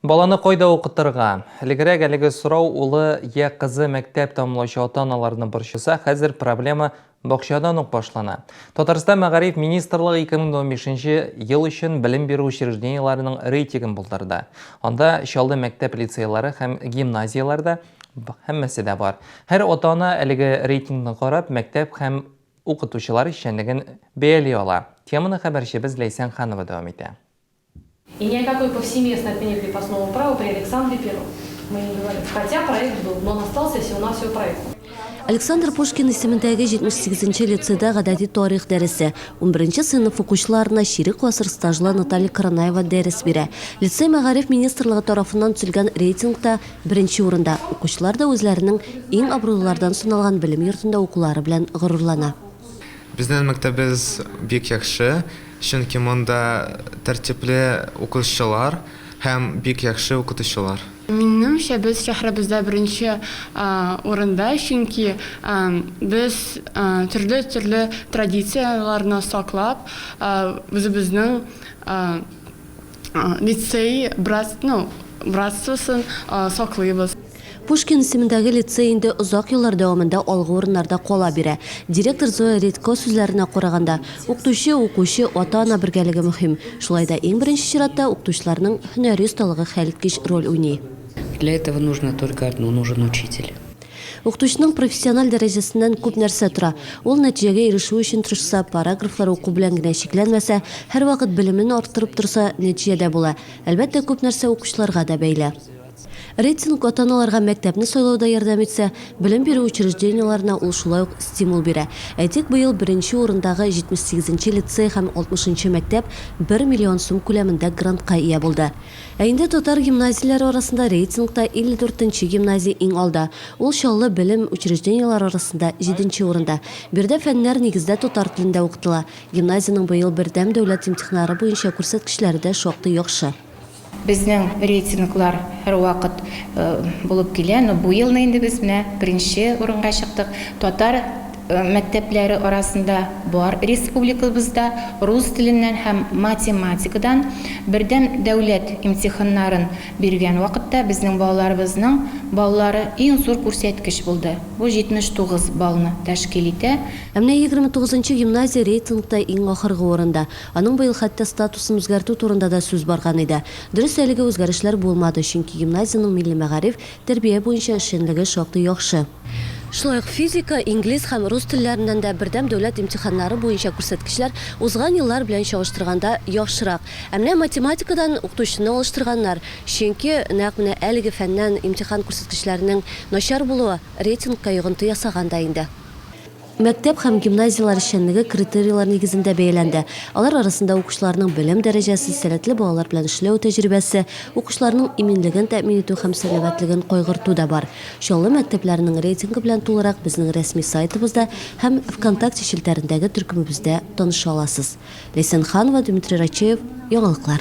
Баланы кайда укытырга? Элегрәк әлеге сорау улы я кызы мәктәп тәмамлаучы ата-аналарны борчыса, хәзер проблема бакчадан ук башлана. Татарстан мәгариф министрлыгы 2015 ел өчен белем бирү учреждениеләренең рейтигын булдырды. Анда Чаллы мәктәп-лицейлары һәм гимназияләрдә һәммәсе дә бар. Һәр ата-ана әлеге рейтингны карап, мәктәп һәм укытучылар эшчәнлеген бәяли ала. Теманы хәбәрчебез Ләйсән Ханова дәвам итә. И ни о какой повсеместной отмене крепостного права при Александре Первом мы не говорим, хотя проект был, но он остался всего-навсего проектом. Александр Пушкин исемендәге 78 нче лицейда гадәти тарих дәресе, унберенче сыйныф укучыларына чирек гасыр стажлы Наталья Каранаева дәрес бирә. Лицей мәгариф министрлыгы тарафыннан төзелгән рейтингта беренче урында. Укучылар да үзләренең иң абруйлылардан саналган белем йортында укулары белән горурлана. Безнең мәктәбебез бик яхшы. Чөнки монда тәртипле укучылар һәм бик яхшы укытучылар. Минемчә, без шәһәребездә беренче урында, чөнки без төрле-төрле традицияләрне саклап, үзебезнең. Лицей братство, ну, братствосын саклыйбыз. Пушкин исемендәге лицей инде озак еллар дәвамында алгы урыннарда кала бирә. Директор Зоя Редько сүзләренә караганда, укытучы, укучы, ата-ана бергәлеге мөһим. Шулай да иң беренче чиратта укытучыларның һөнәри осталыгы хәлиткеч роль уйный. Для этого нужно только одно, нужен учитель. Укытучының профессиональ дәрәҗәсеннән күп нәрсә тора. Ул нәтиҗәгә ирешү өчен тырышса, параграфлар уку белән генә чикләнмәсә, һәрвакыт белемен арттырып торса, нәтиҗә дә була. Әлбәттә, күп нәрсә укучыларга да бәйле. Рейтинг ата-аналарга мәктәпне сайлауда ярдәм итсә, белем бирү учреждениеләренә ул шулай ук стимул бирә. Әйтик, быел беренче урындагы 78 нче лицей һәм 60 нчы мәктәп бер миллион сум күләмендә грантка ия булды. Ә инде татар гимназияләре арасында рейтингта 54 нче гимназия иң алда. Ул Чаллы белем учреждениеләре арасында җиденче урында. Биредә фәннәр нигездә татар телендә укытыла. Гимназиянең быел бердәм дәүләт имтиханнары буенча күрсәткечләре дә шактый яхшы. Безнең рейтинглар һәрвакыт булып килә, но бу елны инде без менә беренче урынга чыктык. Татар. мәктәпләре арасында бар республикабызда рус теленнән һәм математикадан бердәм дәүләт имтиханнарын биргән вакытта безнең балаларыбызның баллары иң зур күрсәткеч булды, бу 79 баллны тәшкил итә. Ә менә егерме тугызынчы гимназия рейтингта иң ахыргы урында. Аның быел хәтта статусын үзгәртү турында да сүз барган иде. Дөрес, әлеге үзгәрешләр булмады, чөнки гимназиянең милли мәгариф, Тәрбия буенча эшчәнлеге шактый яхшы. Шулай ук физика, инглиз һәм рус телләреннән дә бердәм дәүләт имтиханнары буенча күрсәткечләр узган еллар белән чагыштырганда яхшырак. Ә менә математикадан укытучыны алыштырганнар, чөнки нәкъ менә әлеге фәннән имтихан күрсәткечләренең начар булуы рейтингка йогынты ясаган да инде. Мәктәп һәм гимназияләр эшчәнлеге критерийлар нигезендә бәяләнде. Алар арасында укучыларның белем дәрәҗәсе, сәләтле балалар белән эшләү тәҗрибәсе, укучыларның иминлеген тәэмин итү һәм сәламәтлеген кайгырту да бар. Чаллы мәктәпләренең рейтингы белән тулырак безнең рәсми сайтыбызда һәм Вконтакте челтәрендәге төркемебездә таныша аласыз. Ләйсән Ханова, Дмитрий Рачеев, Яңалыклар.